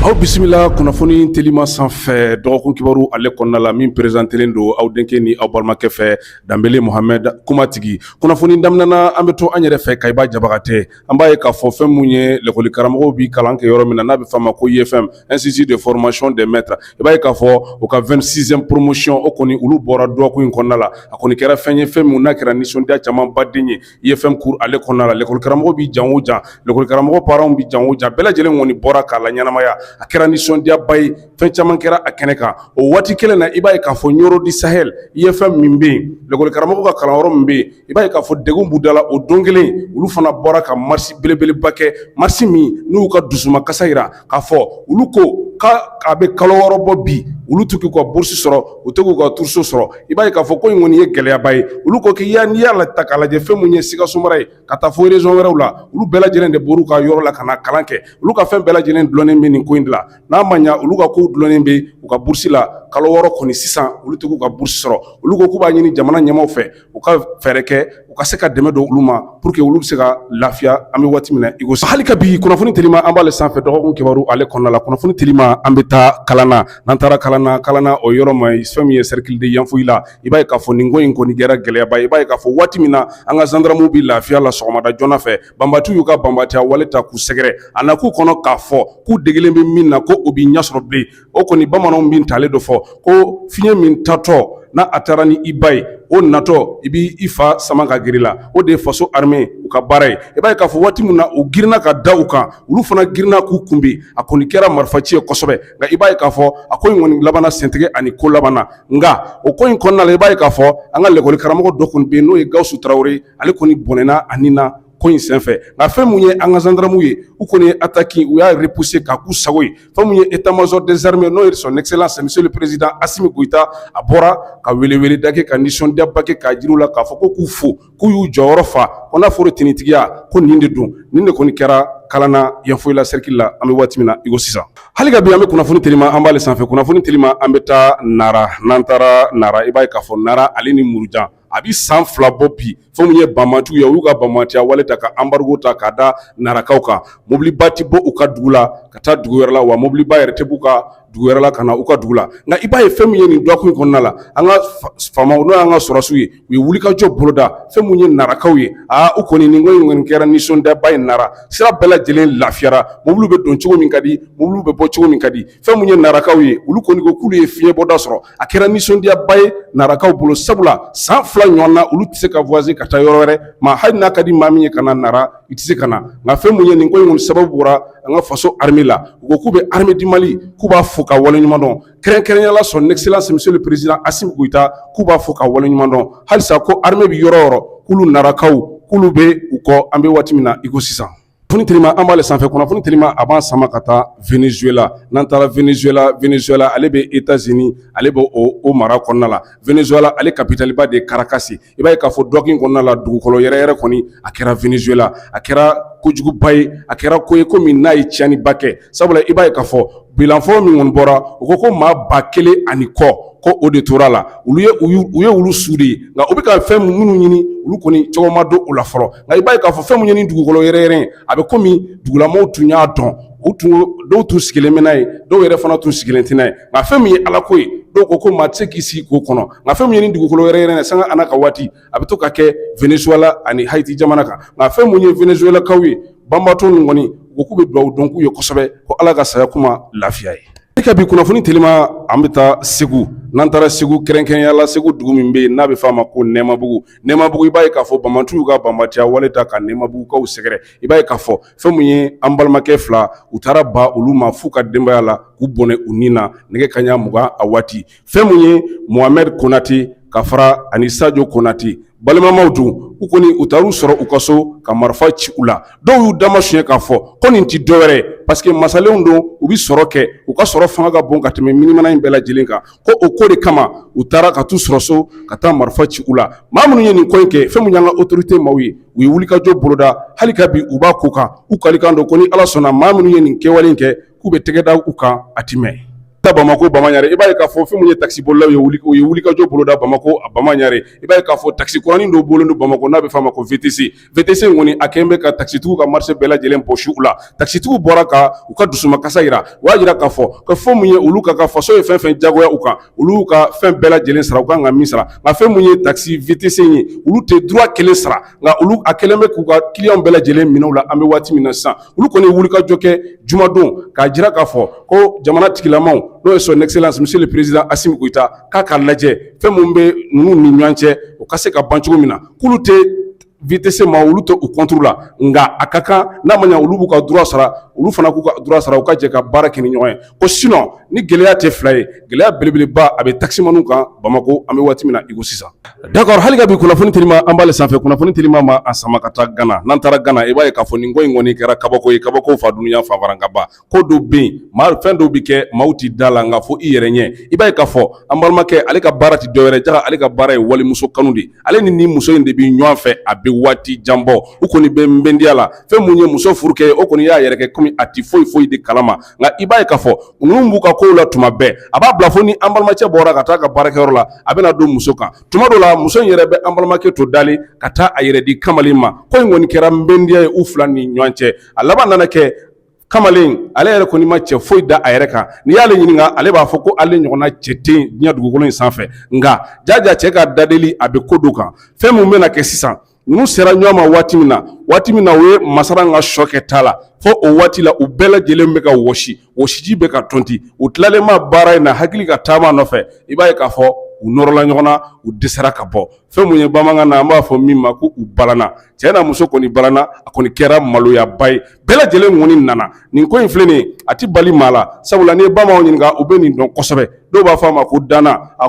aw bisimila kunnafoni telima sanfɛ dɔgɔkun kibaru ale kɔnɔna la min perezantelen don aw denkɛ ni aw balimakɛ fɛ danbele muhamɛd kumatigi kunnafoni daminɛna an bɛ to an yɛrɛ fɛ Kayi ba jabagatɛ an b'a ye k'a fɔ fɛn minnu ye lakɔli karamɔgɔw bɛ kalan kɛ yɔrɔ min na n'a bɛ f'a ma ko IFM institut de formation des maîtres i b'a ye k'a fɔ u ka vingt-sixième promotion o kɔni olu bɔra dɔgɔkun in kɔnɔna la a kɔni kɛra fɛn ye fɛn min n'a kɛra nisɔndiya camanba de ye IFM kuru ale kɔnɔna la lekɔli karamɔgɔ bɛ jan o jan lekɔli karamɔgɔ parents bɛ jan o jan bɛɛ lajɛlen kɔni bɔra k'a laɲɛnamaya a kɛra nisɔndiyaba ye fɛn caman kɛra a kɛnɛ kan o waati kelen na i b'a ye k'a fɔ Nioro du Sahel IFM min bɛ yen lekɔli karamɔgɔ ka kalanyɔrɔ min bɛ yen i b'a ye k'a fɔ degun b'u da la o don kelen olu fana bɔra ka marche belebeleba kɛ marche min n'u y'u ka dusumakasi jira k'a fɔ olu ko k' a bɛ kalo wɔɔrɔ bɔ bi olu tɛ k'u ka burusi sɔrɔ u tɛ k'u ka turuso sɔrɔ i b'a ye k'a fɔ ko in kɔni ye gɛlɛyaba ye olu ko k'i ya n'i y'a la ta k'a lajɛ fɛn minnu ye Sikaso mara ye ka taa fo région wɛrɛw la olu bɛɛ lajɛlen de bɔra u ka yɔrɔ la ka na kalan kɛ olu ka fɛn bɛɛ lajɛlen dulonnen bɛ nin ko in de la n'a ma ɲɛ olu ka kow dulonnen bɛ u ka burusi la kalo wɔɔrɔ kɔni sisan olu tɛ k'u ka burusi sɔrɔ olu ko k'u b'a ɲini jamana ɲɛmaa fɛ u ka fɛɛrɛ kɛ u ka se ka dɛmɛ don olu ma pour que olu bɛ se ka lafiya an bɛ waati min na i ko sisan hali ka bi kunnafoni telima an b'ale sanfɛ dɔgɔkun kibaru ale kɔnɔna la kunnafoni telima an bɛ taa Kalana n'an taara Kalana Kalana o yɔrɔ ma fɛn min ye cercle de Yanfoyila i b'a ye k'a fɔ nin ko in kɔni kɛra gɛlɛyaba ye i b'a ye k'a fɔ waati min na an ka zandarmuw bɛ lafiya la sɔgɔmada joona fɛ banbatiw y'u ka banbatiya wale ta k'u sɛgɛrɛ a na k'u kɔnɔ k'a fɔ k'u degelen bɛ min na ko u bɛ ɲɛ sɔrɔ bilen o kɔni bamananw bɛ ntalen dɔ fɔ ko fiɲɛ min taatɔ n'a a taara ni i ba ye o natɔ i b' i fa sama ka girin la o de ye faso armée u ka baara ye i b'a ye k'a fɔ waati min na u girinna ka da u kan olu fana girinna k'u kunbɛn a kɔni kɛra marifa ci ye kosɛbɛ nka i b'a ye k'a fɔ a ko in kɔni labanna sentigi ani ko labanna nka o ko in kɔnɔna la i b'a ye k'a fɔ an ka lɛkɔli karamɔgɔ dɔ tun bɛ yen n'o ye Gawusu Tarawele ale kɔni bɔnɛna a ni na ko in senfɛ nka fɛn min ye an ka zandarmuw ye u kɔni ye ataki u y'a repousser k'a k'u sago ye fɛn min ye état-major des armées n'o ye son excellence monsieur le président Asimi Goyita a bɔra ka welewele da k'a ka nisɔndiyaba k'a jira u la k'a fɔ ko k'u fo k'u y'u jɔyɔrɔ fa ko n'a fɔra tiɲɛtigiya ko nin de don nin de kɔni kɛra Kalana Yanfoyila seriki la an bɛ waati min na iko sisan hali ka bi an bɛ kunnafoni telima an b'ale sanfɛ kunnafoni telima an bɛ taa Nara n'an taara Nara i b'a ye k'a fɔ Nara ale ni Murujan a bɛ san fila bɔ bi fɛn min ye banbatiw ye u y'u ka banbatiya wale ta ka anbarigo ta k'a da narakaw kan mobiliba tɛ bɔ u ka dugu la ka taa dugu wɛrɛ la wa mobiliba yɛrɛ tɛ b'u ka dugu wɛrɛ la ka na u ka dugu la nka i b'a ye fɛn min ye nin dɔgɔkun kɔnɔna la an ka faamaw n'o y'an ka sɔrɔdasiw ye u ye wulikajɔ boloda fɛn min ye narakaw ye aa u kɔni nin ko in kɔni kɛra nisɔndiyaba ye nara sira bɛɛ lajɛlen lafiyara mobiliw bɛ don cogo min ka di mobiliw bɛ bɔ cogo min ka di fɛn mun ye narakaw ye olu kɔni ko k'olu ye fiɲɛbɔda sɔrɔ a kɛra nisɔndiyaba ye narakaw bolo sabula san fila ɲɔgɔn na olu tɛ se ka voyage ka taa yɔrɔ wɛrɛ maa hali n'a ka di maa min ye ka na nara i tɛ se ka na nka fɛn mun ye nin ko in kɔni sababu bɔra an ka faso arme la u ko k'u bɛ armée du Mali k'u b'a fo ka wale ɲuman dɔn kɛrɛnkɛrɛnya la son excellence monsieur le président Assimi Goïta k'u b'a fo ka wale ɲuman dɔn halisa ko arme bɛ yɔrɔ yɔrɔ k'olu narakaw k'olu bɛ u kɔ an bɛ waati min na i ko sisan foni telima an b'ale sanfɛ kunnafoni telima a b'an sama ka taa Venezuela n'an taara Venezuela Venezuela ale bɛ États-Unis ale bɛ o mara kɔnɔna la Venezuela ale kapitaliba de Caracas i b'a ye k'a fɔ dɔgɔkun kɔnɔna la dugukolo yɛrɛyɛrɛ kɔni a kɛra Venezuela a kɛra kojuguba ye a kɛra ko ye ko min n'a ye tiɲɛniba kɛ sabula i b'a ye k'a fɔ bilan fɔlɔ min kɔni bɔra u ko ko maa ba kelen ani kɔ ko o de tora a la u ye olu su de ye nka u bɛ ka fɛn minnu ɲini olu kɔni cogo ma dɔn u la fɔlɔ nka i b'a ye k'a fɔ fɛn min ye nin dugukolo yɛrɛyɛrɛ ye a bɛ kɔmi dugulamaw tun y'a dɔn dɔw tun sigilen bɛ n'a ye dɔw yɛrɛ fana tun sigilen tɛ n'a ye nka fɛn min ye ala ko ye dɔw ko ko maa tɛ se k'i sigi k'o kɔnɔ nka fɛn min ye nin dugukolo yɛrɛyɛrɛ sanga ani ka waati a bɛ to ka kɛ Venezuela ani Haiti jamana kan nka fɛn mun ye Venezuelakaw ye banbaatɔ ninnu kɔni u k'u bɛ dugawu don k'u ye kosɛbɛ ko Ala ka saya k'u ma lafiya ye. Ka bi kunnafoni telima an bɛ taa Segu n'an taara Segu kɛrɛnkɛrɛnya la Segu dugu min bɛ yen n'a bɛ f'a ma ko Nɛmabugu Nɛmabugu i b'a ye k'a fɔ banbaantiw y'u ka banbaantiya wale ta ka Nɛmabugukaw sɛgɛrɛ i b'a ye k'a fɔ fɛn mun ye an balimakɛ fila u taara ba olu ma f'u ka denbaya la k'u bɔnɛ u ni na nɛgɛ kanɲɛ mugan a waati fɛn min ye Mohamed Konate ka fara a ni Sajo Konate balimamaw don u kɔni u taar'u sɔrɔ u ka so ka marifa ci u la dɔw y'u damasiyɛn k'a fɔ ko nin tɛ dɔwɛrɛ ye parce que masalenw don u bɛ sɔrɔ kɛ u ka sɔrɔ fanga ka bon ka tɛmɛ minimana in bɛɛ lajɛlen kan ko o ko de kama u taara ka t'u sɔrɔ so ka taa marifa ci u la maa minnu ye nin ko in kɛ fɛn min y'an ka autorité maaw ye u ye wulikajɔ boloda hali ka bi u b'a ko kan u kalikan don ko ni Ala sɔnna maa minnu ye nin kɛwale in kɛ k'u bɛ tɛgɛda u kan a ti mɛn taa bamakɔ bamanankɛ i b'a ye k'a fɔ fɛn min ye takisibolilaw ye wuli u ye wulikajɔ boloda bamakɔ a bamanankɛ i b'a ye k'a fɔ takisi kuranin dɔ bolo don bamakɔ n'a bɛ f'a ma ko VTC VTC kɔni a kɛlen bɛ ka takisitigiw ka marché bɛɛ lajɛlen bɔsi u la takisitigiw bɔra ka u ka dusumakasi jira u y'a jira k'a fɔ fɛn min ye olu ka ka faso ye fɛn fɛn jagoya u kan olu ka fɛn bɛɛ lajɛlen sara u ka kan ka min sara nka fɛn min ye takisi VTC ye olu tɛ droit kelen sara nka olu a kɛlen bɛ k'u ka kiliyan bɛɛ lajɛlen minɛ u la an bɛ waati min na sisan olu kɔni wulikajɔ kɛ jumadon k'a jira k'a fɔ ko jamana tigilama n'o ye son excellence monsieur le président Assimi Goïta k'a ka lajɛ fɛn minnu bɛ ninnu ni ɲɔgɔn cɛ o ka se ka ban cogo min na k'olu tɛ VTC ma olu tɛ u contre la nka a ka kan n'a ma ɲɛ olu b'u ka droit sara olu fana k'u ka droit sara u ka jɛ ka baara kɛ ni ɲɔgɔn ye ko sinɔn ni gɛlɛya tɛ fila ye gɛlɛya belebeleba a bɛ takisimanw kan bamakɔ an bɛ waati min na iko sisan dakɔrɔ hali ka bi kunnafoni telima an b'ale sanfɛ kunnafoni telima b'a sama ka taa gana n'an taara gana i b'a ye k'a fɔ nin ko in kɔni kɛra kabako ye kabako fa dunya fanfarankaba ko dɔw bɛ yen maa fɛn dɔw bɛ kɛ maaw tɛ da a la nka fo i yɛrɛ ɲɛ i b'a ye k'a fɔ an balimakɛ ale ka baara tɛ dɔwɛrɛ ja ale ka baara ye walimuso kanu de ale ni nin muso in de bɛ ɲɔgɔn fɛ a bɛ waati jan bɔ u kɔni bɛ nbɛndiya la fɛn min ye muso furukɛ o kɔni y'a yɛrɛ kɛ kɔmi a tɛ foyi foyi de kalama nka i b'a ye k'a fɔ ninnu b'u ka kow la tuma bɛɛ a b'a bila fo ni an balimacɛ bɔra ka taa a ka baarakɛyɔrɔ la a bɛna don muso kan tuma dɔ la muso in yɛrɛ bɛ an balimakɛ to dalen ka taa a yɛrɛ di kamalen ma ko in kɔni kɛra nbɛndiya ye u fila ni ɲɔgɔn cɛ a laban nana kɛ kamalen ale yɛrɛ kɔni ma cɛ foyi da a yɛrɛ kan n'i y'ale ɲininka ale b'a fɔ ko ale ɲɔgɔnna cɛ tɛ diɲɛ dugukolo in sanfɛ nka jaja cɛ ka dadeli a bɛ ko dɔ kan fɛn min bɛna kɛ sisan Ninnu sera ɲɔgɔn ma waati min na waati min na u ye masa ka sokɛ ta la fo o waati la u bɛɛ lajɛlen bɛ ka wɔsi wɔsiji bɛ ka tɔnti u tilalenma baara in na hakili ka taama nɔfɛ i b'a ye k'a fɔ u nɔrɔla ɲɔgɔn na u dɛsɛra ka bɔ fɛn min ye bamanankan na an b'a fɔ min ma ko u balanna cɛ n'a muso kɔni balanna a kɔni kɛra maloyaba ye bɛɛ lajɛlen kɔni nana nin ko in filɛ a tɛ bali maa la sabula n'i ye bamananw ɲininka u bɛ nin dɔn kosɛbɛ dɔw b'a fɔ a ma ko dana a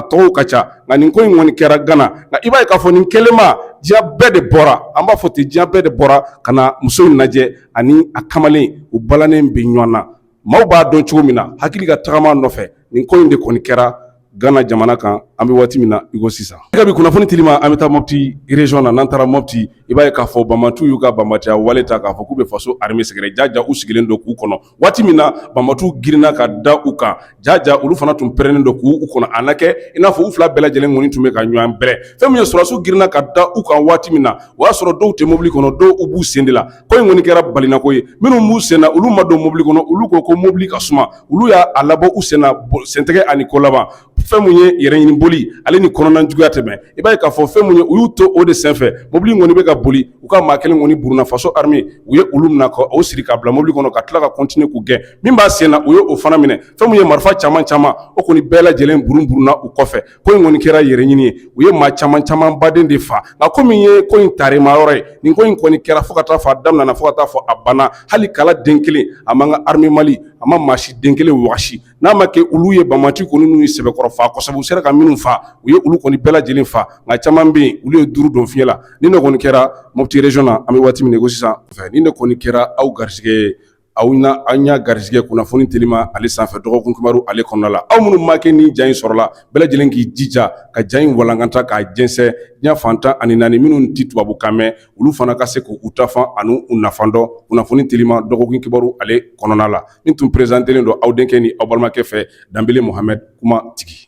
tɔgɔ ka ca nka nin ko in kɔni kɛra gana nka i b'a ye k'a fɔ nin kɛlenma diɲɛ bɛɛ de bɔra an b'a fɔ ten diɲɛ bɛɛ de bɔra ka na muso in lajɛ ani a kamalen u balannen bɛ ɲɔgɔn na maaw b'a dɔn cogo min na hakili ka tagama nɔfɛ nin ko in de kɔni kɛra gana jamana kan an bɛ waati min na iko sisan ka bi kunnafoni telima an bɛ taa moti région na n'an taara moti i b'a ye k'a fɔ banbatuw y'u ka banbatiya wale ta k'a fɔ k'u bɛ faso armée sɛgɛrɛ jaja u sigilen don k'u kɔnɔ waati min na banbatuw girinna ka da u kan ja ja olu fana tun pɛrɛnnen don k'u u kɔnɔ a na kɛ i n'a fɔ u fila bɛɛ lajɛlen kɔni tun bɛ ka ɲɔgɔn bɛrɛ fɛn min ye sɔrɔdasiw girinna ka da u kan waati min na o y'a sɔrɔ dɔw tɛ mobili kɔnɔ dɔw u b'u sen de la ko in kɔni kɛra balinako ye minnu b'u senna olu ma don mobili kɔnɔ olu ko ko mobili ka suma olu y'a labɔ u senna sentɛgɛ ani ko laban fɛn min ye yɛrɛɲini boli ale ni kɔnɔnajuguya tɛmɛn i b'a ye k'a fɔ fɛn min ye u y'u to o de senfɛ mobili kɔni bɛ ka boli u ka maa kelen kɔni burunna faso armée u ye olu minɛ ka o siri ka bila mobili kɔnɔ ka tila ka continuer k'u gɛn min b'a sen na u ye o fana minɛ fɛn min ye marifa caman caman o kɔni bɛɛ lajɛlen burun burunna u kɔfɛ ko in kɔni kɛra yɛrɛ ɲini ye u ye maa caman caman baden de fa nka ko min ye ko in tarima yɔrɔ ye nin ko in kɔni kɛra fo ka taa fo a daminɛna fo ka taa fo a banna hali kala den kelen a ma armée Mali a ma maa si den kelen waasi n'a ma kɛ olu ye banbati kɔni n'u ye sɛbɛkɔrɔ fa kɔsa u sera ka minnu faa u ye olu kɔni bɛɛ lajɛlen fa nka caman bɛ yen olu ye duuru don fiɲɛ la nin de kɔni kɛra mopti région kɔnɔ an bɛ waati min na iko sisan nin de kɔni kɛra aw garisɛgɛ aw an y'a garisɛgɛ kunnafoni telima ale sanfɛ dɔgɔkun kibaru ale kɔnɔ la aw minnu mana kɛ nin ja in sɔrɔla bɛɛ lajɛlen k'i jija ka ja in walankata k'a jɛnsɛn diɲɛ fan tan ani naani minnu tɛ tubabukan mɛn olu fana ka se k'u ta fan ani u nafa dɔn kunnafoni telima dɔgɔkun kibaru ale kɔnɔna la Nin tun perezantelen don aw denkɛ ni aw balimakɛ fɛ Danbele Muhamɛd kuma tigi